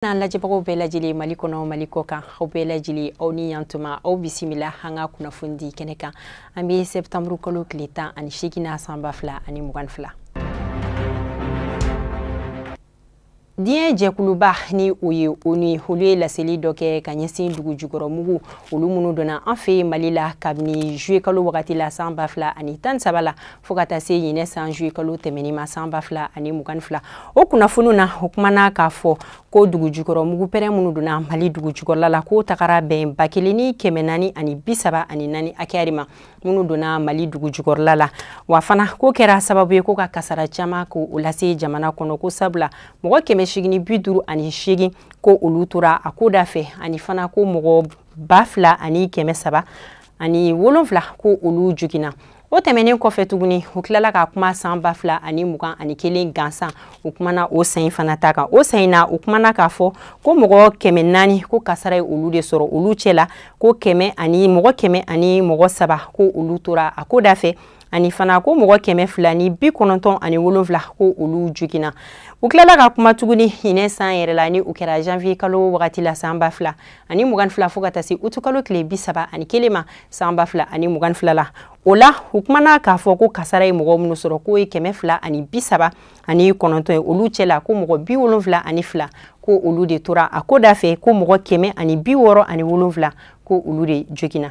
n'an lajɛbagaw bɛɛ lajɛlen mali kɔnɔ mali kɔ kan aw bɛɛ lajɛlen aw ni yantuma aw bisimila an ka kunnafoni di kɛnɛ kan an bɛ sɛptanburu kalo tile tan ani seegin na san ba fila ani mugan fila diɲɛ jɛkuluba ni o ye onu olu ye laseli dɔ kɛ ka ɲɛsin dugujukɔrɔ mugu olu minnu donna an fɛ yen mali la kabini juye kalo wagati la san ba fila ani tan saba la fo ka taa se ɲinan san juye kalo tɛmɛni ma san ba fila ani mugan ni fila o kunnafoniw na o kumana k'a fɔ ko dugujukɔrɔ mugu pɛrɛn minnu donna mali dugujukɔrɔla la k'o tagara bɛn ba kelen ni kɛmɛ naani ani bi saba ani naani hakɛya de ma minnu donna mali dugujukɔrɔla la wa fana k'o kɛra sababu ye ko ka kasara caman ko o lase jamana kɔnɔ ko sabula mɔgɔ kɛmɛ segin ni bi duuru ani segin ko olu tora a ko da fɛ ani fana ko mɔgɔ ba fila ani kɛmɛ saba ani wolonfila ko olu joginna o tɛmɛnen kɔfɛ tuguni u tilala ka kuma san ba fila ani mugan ani kelen gansan u kumana o san fana ta kan o san na u kumana k'a fɔ ko mɔgɔ kɛmɛ naani ko kasara ye olu de sɔrɔ olu cɛ la ko kɛmɛ ani mɔgɔ kɛmɛ ani mɔgɔ saba ko olu tora a ko da fɛ ani fana ko mɔgɔ kɛmɛ fila ni bi kɔnɔntɔn ani wolonfila ko olu joginna u tilala ka kuma tuguni ɲinan san yɛrɛ la ni o kɛra janvier kalo wagati la san ba fila ani mugan fila fo ka taa se uti kalo tile bi saba ani kelen ma san ba fila ani mugan fila la o la u kumana k'a fɔ ko kasara ye mɔgɔ minnu sɔrɔ k'o ye kɛmɛ fila ani bi saba ani kɔnɔntɔn ye olu cɛ la ko mɔgɔ bi wolonfila ani fila ko olu de tora a ko da fɛ ko mɔgɔ kɛmɛ ani bi wɔɔrɔ ani wolonfila ko olu de joginna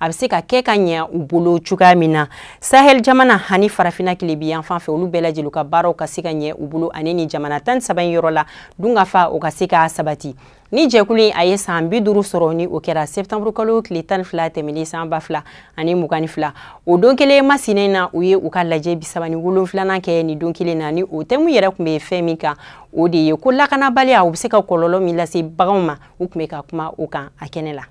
a bɛ se ka kɛ ka ɲɛ u bolo cogoya min na sahel jamana ani farafina tilebin yanfan fɛ olu bɛɛ lajɛlen ka baaraw ka se ka ɲɛ u bolo ani nin jamana tan saba in yɔrɔ la dunkafa o ka se ka sabati nin jɛkulu in a ye san bi duuru sɔrɔ ni o kɛra sɛptanburu kalo tile tan ni fila tɛmɛnen san ba fila ani mugan ni fila o don kelen masina in na u ye u ka lajɛ bi saba ni wolonfilanan kɛ nin don kelen na ni o tɛmu yɛrɛ tun bɛ fɛn min kan o de ye ko lakanabaliya o bɛ se ka kɔlɔlɔ min lase baganw ma u tun bɛ ka kuma o kan a kɛnɛ la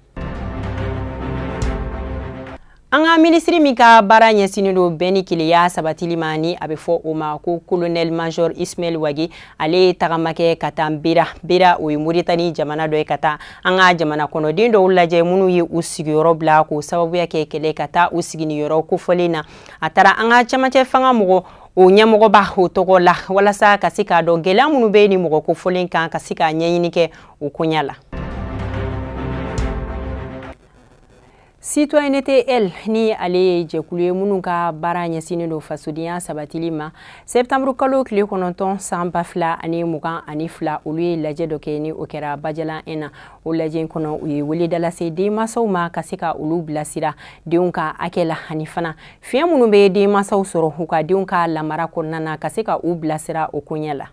an ka minisiri min ka baara ɲɛsinnen don bɛn ni kelenya sabatili ma ni a bɛ fɔ o ma ko kolonɛli major ismail wage ale ye tagama kɛ ka taa mbera mbera o ye moritani jamana dɔ ye ka taa an ka jamana kɔnɔden dɔw lajɛ minnu ye u sigiyɔrɔ bila k'o sababuya kɛ kɛlɛ ka taa u sigi nin yɔrɔ kofɔlen na a taara an ka camancɛ fanga mɔgɔ o ɲɛmɔgɔba o tɔgɔ la walasa ka se k'a dɔn gɛlɛya minnu bɛ nin mɔgɔ kofɔlen kan ka se k'a ɲɛɲini kɛ o koɲa la citoyenneté elles ni ale ye jɛkulu ye minnu ka baara ɲɛsinnen don fasodenya sabatili ma sɛptanburu kalo tile kɔnɔntɔn san ba fila ani mugan ani fila olu ye lajɛ dɔ kɛ ni o kɛra bajalan un na o lajɛ in kɔnɔ u ye weleda lase denmasaw ma ka se ka olu bilasira denw ka hakɛ la ani fana fiɲɛ minnu bɛ denmasaw sɔrɔ u ka denw ka lamara kɔnɔna na ka se ka u bilasira o koɲɛ la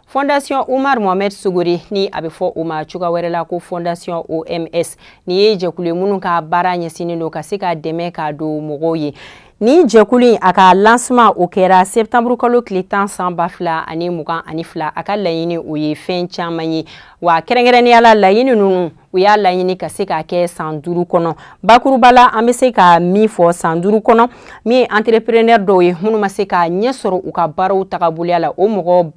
fondation umar mohamed sogore ni a bɛ fɔ o ma cogoya wɛrɛ la ko fondation oms ni ye jɛkulu ye minnu ka baara ɲɛsinnen don ka se ka dɛmɛ ka don mɔgɔw ye nin jɛkulu in a ka lancement o kɛra septanburu kalo tile tan san ba fila ani mugan ani fila a ka laɲini o ye fɛn caman ye wa kɛrɛnkɛrɛnnenya la laɲini ninnu u y'a laɲini ka se k'a kɛ san duuru kɔnɔ bakuruba la an bɛ se ka min fɔ san duuru kɔnɔ min ye entrepreneur dɔw ye minnu ma se ka ɲɛ sɔrɔ u ka baaraw tagaboloya la o mɔgɔ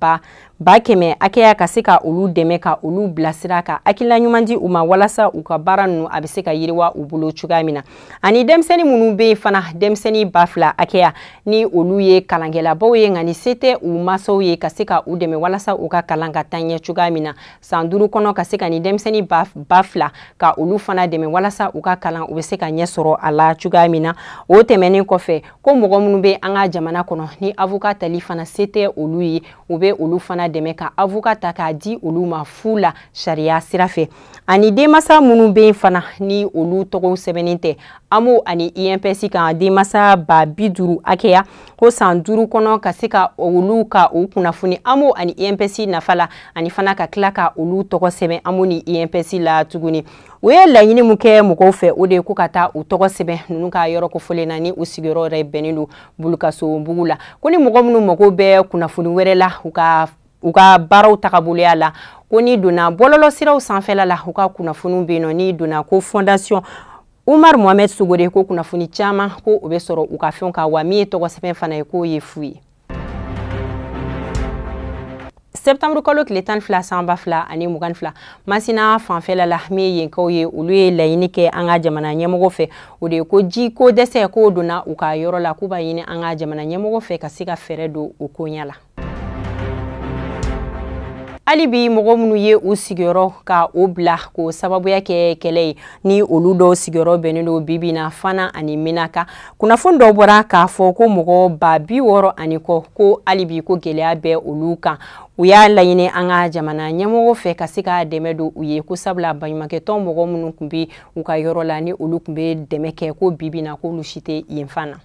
ba kɛmɛ hakɛya ka se ka olu dɛmɛ ka olu bilasira ka hakilila ɲuman di u ma walasa u ka baara ninnu a bɛ se ka yiriwa u bolo cogoya min na ani denmisɛnnin minnu bɛ yen fana denmisɛnnin ba fila hakɛya ni olu ye kalankɛlabaw ye nka ni se tɛ u masaw ye ka se ka u dɛmɛ walasa u ka kalan ka taa ɲɛ cogoya min na san duuru kɔnɔ ka se ka ni denmisɛnnin ba fila ka olu fana dɛmɛ walasa u ka kalan u bɛ se ka ɲɛ sɔrɔ a la cogoya min na o tɛmɛnen kɔfɛ ko mɔgɔ minnu bɛ an ka jamana kɔnɔ ni avoka tali fana se tɛ olu ye u bɛ olu fana dɛmɛ ka avoka ta k'a di olu ma fu la sariya sira fɛ ani denmasa minnu bɛ yen fana ni olu tɔgɔw sɛbɛnnen tɛ amo ani inps kan denmasa ba bi duuru hakɛya ko san duuru kɔnɔ ka se ka olu ka u kunnafoni AMO ani INPS nafa la ani fana ka tila ka olu tɔgɔ sɛbɛn AMO ni INPS la tuguni u ye laɲini min kɛ mɔgɔw fɛ o de ye ko ka taa u tɔgɔ sɛbɛn ninnu ka yɔrɔ kofɔlen na ni u sigiyɔrɔ yɛrɛ bɛnnen don bulukasobugu la ko ni mɔgɔ minnu mago bɛ kunnafoni wɛrɛ la u ka baaraw tagaboloya la ko n'i donna bɔlɔlɔsiraw sanfɛla la u ka kunnafoniw bɛ yen nɔ n'i donna ko fondation umar mohamɛd sogore ko kunnafoni caman ko o bɛ sɔrɔ u ka fɛnw kan wa min ye tɔgɔ sɛbɛn fana ye k'o ye fu ye septanburu kalo tile tan fila san ba fila ani mugan fila masina fanfɛla la min ye yenkaw ye olu ye laɲini kɛ an ka jamana ɲɛmɔgɔ fɛ o de ye ko ji ko dɛsɛ k'o donna u ka yɔrɔ la k'u b'a ɲini an ka jamana ɲɛmɔgɔ fɛ ka se ka fɛɛrɛ don o koɲa la hali bi mɔgɔ minnu ye u sigiyɔrɔ ka o bila k'o sababuya kɛ kɛlɛ ye ni olu dɔw sigiyɔrɔ bɛnnen don bibi na fana ani menaka kunnafoni dɔw bɔra k'a fɔ ko mɔgɔ ba bi wɔɔrɔ ani kɔ ko hali bi ko gɛlɛya bɛ olu kan u y'a laɲini an ka jamana ɲɛmɔgɔ fɛ ka se ka dɛmɛ don u ye ko sabula baɲumankɛtɔn mɔgɔ minnu tun bɛ u ka yɔrɔ la ni olu tun bɛ dɛmɛ kɛ ko bibi na k'olu si tɛ yen fan na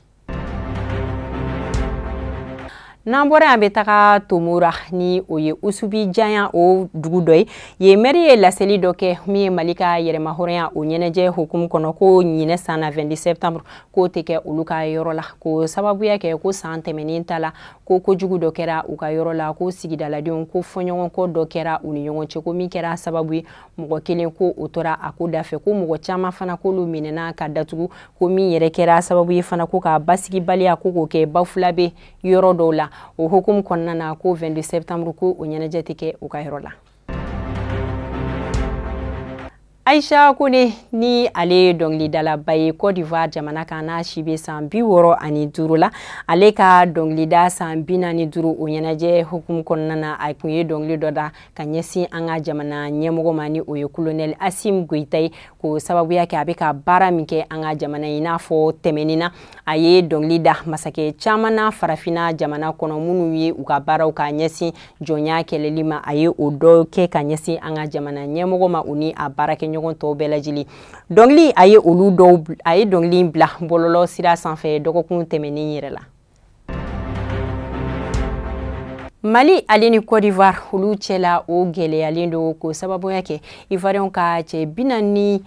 n'an bɔra yen an bɛ taga tomora ni o ye usubijaɲa o dugu dɔ ye yen mɛri ye laseli dɔ kɛ min ye mali ka yɛrɛmahɔrɔnya o ɲɛnajɛ hukumu kɔnɔ ko ɲinɛ san na 22 septembre k'o tɛ kɛ olu ka yɔrɔ la k'o sababuya kɛ ko san tɛmɛnen ta la ko kojugu dɔ kɛra u ka yɔrɔ la ko sigidaladenw ko fɔɲɔgɔnkɔ dɔ kɛra u ni ɲɔgɔn cɛ ko min kɛra sababu ye mɔgɔ kelen ko o tora a ko da fɛ ko mɔgɔ caman fana k'olu minɛna ka datugu ko min yɛrɛ kɛra sababu ye fana ko ka basigibaliya ko k'o kɛ bafulabɛ yɔrɔ dɔw la o hukumu kɔnɔna na ko 22 septembre ko o ɲɛnajɛ tɛ kɛ u ka yɔrɔ la aisha kone ni ale ye dɔngilidalaba ye cote d'ivoire jamana kan n'a si bɛ san bi wɔɔrɔ ani duru la ale ka dɔngilida san bi naani duru o ɲɛnajɛ hukumu kɔnɔna na a kun ye dɔngili dɔ da ka ɲɛsin an ka jamana ɲɛmɔgɔ ma ni o ye kolonɛli asim goyita ye k'o sababuya kɛ a bɛ ka baara min kɛ an ka jamana ye i n'a fɔ tɛmɛnin na a ye dɔnkili da masakɛ caman na farafinna jamana kɔnɔ minnu ye u ka baaraw ka ɲɛsin jɔnya kɛlɛli ma a ye o dɔ kɛ ka ɲɛsin an ka jamana ɲɛmɔgɔ ma u ni a baarakɛɲɔgɔn tɔw bɛɛ lajɛlen dɔnkili a ye olu dɔw a ye dɔnkili bila bɔlɔlɔ sira sanfɛ dɔgɔkun tɛmɛnen yɛrɛ la mali ale ni cote d'ivoire olu cɛla o gwɛlɛyalen don k'o sababuya kɛ ivoiriyɛnw ka cɛ bi naani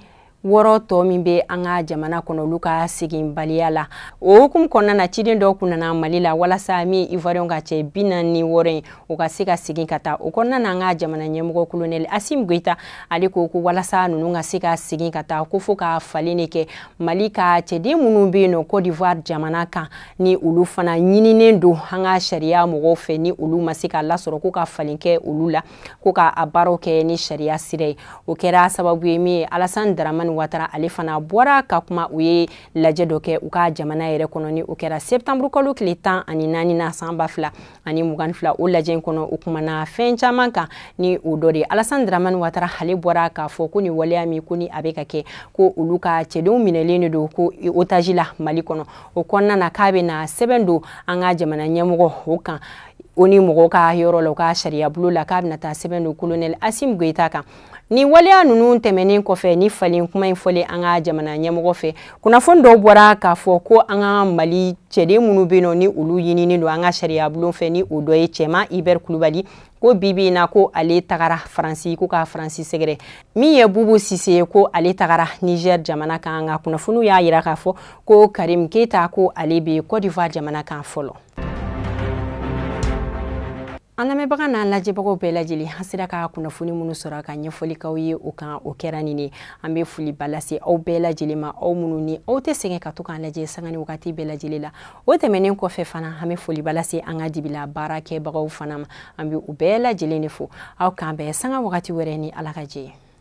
wɔɔrɔ tɔ min bɛ an ka jamana kɔnɔ olu ka seginbaliya la o hukumu kɔnɔna na ciden dɔ kun nana mali la walasa min ivoiriyɛnw ka cɛ bi naani wɔɔrɔ ye o ka se ka segin ka taa o kɔnɔna na an ka jamana ɲɛmɔgɔ kolonɛli asim goyita ale ko ko walasa ninnu ka se ka segin ka taa ko fo ka falen de kɛ mali ka cɛden minnu bɛ yen nɔ cote d'ivoire jamana kan ni olu fana ɲininen don an ka sariya mɔgɔw fɛ ni olu ma se ka lasɔrɔ ko ka falen kɛ olu la ko ka a baaraw kɛ ni sariya sira ye o kɛra sababu ye min ye alasan daramani watara ale fana bɔra ka kuma u ye lajɛ dɔ kɛ u ka jamana yɛrɛ kɔnɔ ni o kɛra septembre kalo tile tan ani naani na san ba fila ani mugan fila o lajɛ in kɔnɔ u kumana fɛn caman kan ni o dɔ de alasan dramani watara ale bɔra k'a fɔ ko ni waleya min ko ni a bɛ ka kɛ ko olu ka cɛdenw minɛlen de don ko otaji la mali kɔnɔ o kɔnɔna na k'a bɛna sɛbɛn don an ka jamana ɲɛmɔgɔ o kan onu mɔgɔw ka yɔrɔ la u ka sariyabulon la k'a bɛna taa sɛbɛn don kolonɛli asim goyita kan Ni waleya ninnu tɛmɛnen kɔfɛ ni falen kuma in fɔlen an ka jamana ɲɛmɔgɔ fɛ kunnafoni dɔw bɔra k'a fɔ ko an ka mali cɛden minnu bɛ nɔ ni olu ɲininen don an ka sariyabulon fɛ ni o dɔ ye cɛman ibɛri kulibali ko bibi in na ko ale tagara faransi ko ka faransi sɛgɛrɛ min ye bubu sise ye ko ale tagara niger jamana kan nka kunnafoniw y'a yira k'a fɔ ko karim keita ko ale bɛ cote d'ivoire jamana kan fɔlɔ an lamɛnbaga n'an lajɛbagaw bɛɛ lajɛlen an sera ka kunnafoni minnu sɔrɔ ka ɲɛfɔli k'aw ye o kan o kɛra nin ye an bɛ foliba lase aw bɛɛ lajɛlen ma aw minnu ni aw tɛ sɛgɛn ka to k'an lajɛ sanga ni wagati bɛɛ lajɛlen la o tɛmɛnen kɔfɛ fana an bɛ foliba lase an ka dibila baarakɛbagaw fana ma an bɛ u bɛɛ lajɛlen de fo aw k'an bɛn sanga wagati wɛrɛ ni ala ka jɛ ye